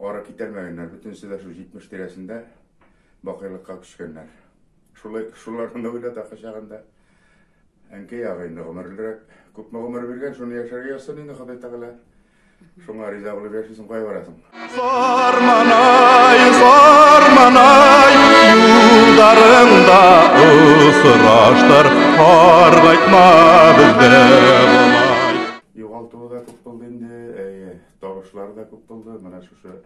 Ары китәрмәгәннәр, бөтенесе дә шул 70 тирәсендә бакыйлыкка күчкәннәр. Шулай шуларны уйлата кочагында. Әнкәй ягы инде гомерлерәк, күпме гомер биргән, шуны яшәргә язсын инде Ходай Тәгалә. Шуңа риза булып яшисең, кай барасың? Фарманай, фарманай, юлдарыңда осраштыр, аргайтма бездә. Табышлар да күп булды. Менә шушы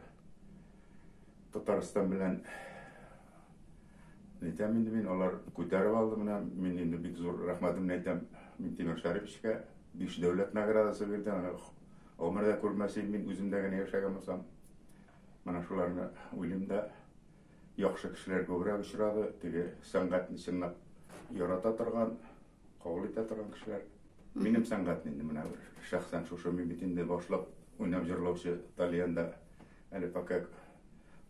Татарстан белән әйтәм инде мин, алар күтәреп алды менә. Мин инде бик зур рәхмәтемне әйтәм Минтимер Шәриповичка. Биш дәүләт наградасы бирде. Аны гомердә күрмәсем мин үземдә генә яшәгән булсам. Менә шуларны уйлыйм да яхшы кешеләр күбрәк очрады. Теге сәнгатьне чынлап ярата торган, Кабул итә торган кешеләр. Минем сәнгать инде менә шәхсән шушы мин бит инде башлап уйнап җырлаучы тальянда әле пока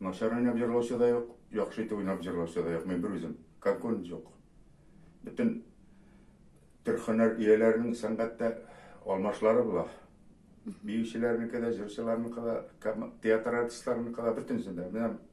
начар уйнап җырлаучы да юк, яхшы итеп уйнап җырлаучы да юк. Мин бер үзем. Конкурен юк. Бөтен төр хөнәр ияләренең сәнгатьтә алмашлары була. Биючеләрнеке дә, җырчыларныкы да, театр артистларныкы да бөтенесе дә. Менә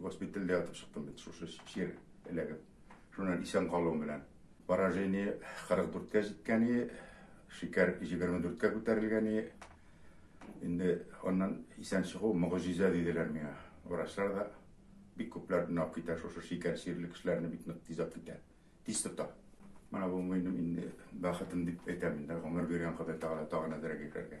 Госпитальдә ятып чыктым бит, шушы чир эләгеп. Шуннан исән калуым белән. Поражение 44-кә җиткән иде, шикәр 24-кә күтәрелгән иде. Инде аннан исән чыгу мөгъҗиза диделәр миңа. Врачлар да бик күпләр нап китә, шушы шикәр сирле кешеләрне бик нык тиз ап китә. Тиз тота. Менә бу минем инде бәхетем дип әйтәм инде, гомер биргән Ходай Тәгалә тагын әзрәк итәргә.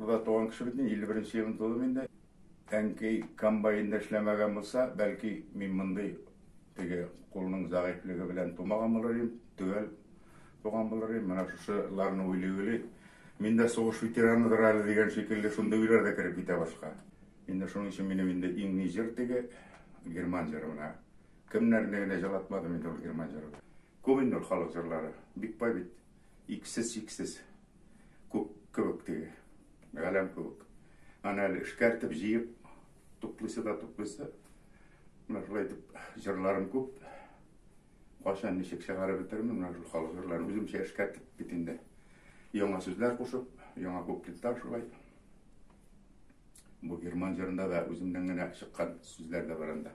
Урда туган кеше бит мин, 51 нче елны тудым инде. Әнкәй комбайнда эшләмәгән булса, бәлки мин мондый теге кулның зәгыйфьлеге белән тумаган булыр идем, төгәл туган булыр идем. Менә шушыларны уйлый-уйлый, мин дә сугыш ветераныдыр әле дигән шикелле шундый уйлар да кереп китә башка. Инде шуның өчен минем инде иң ни җыр теге герман җыры менә. Кемнәрне генә җырлатмадым инде ул герман җыры. Күп инде халык җырлары, бик бай бит. Иксез-чиксез күк кебек теге, галәм кебек. Аны әле эшкәртеп, җыеп, туплыйсы да туплыйсы. Менә шулай итеп җырларым күп. Кайчан ничек чыгарып бетермен, менә шул халык җырларын үземчә эшкәртеп бит инде. Яңа сүзләр кушып, яңа куплеттар шулай. Бу герман җырында да үземнән генә чыккан сүзләр дә бар анда.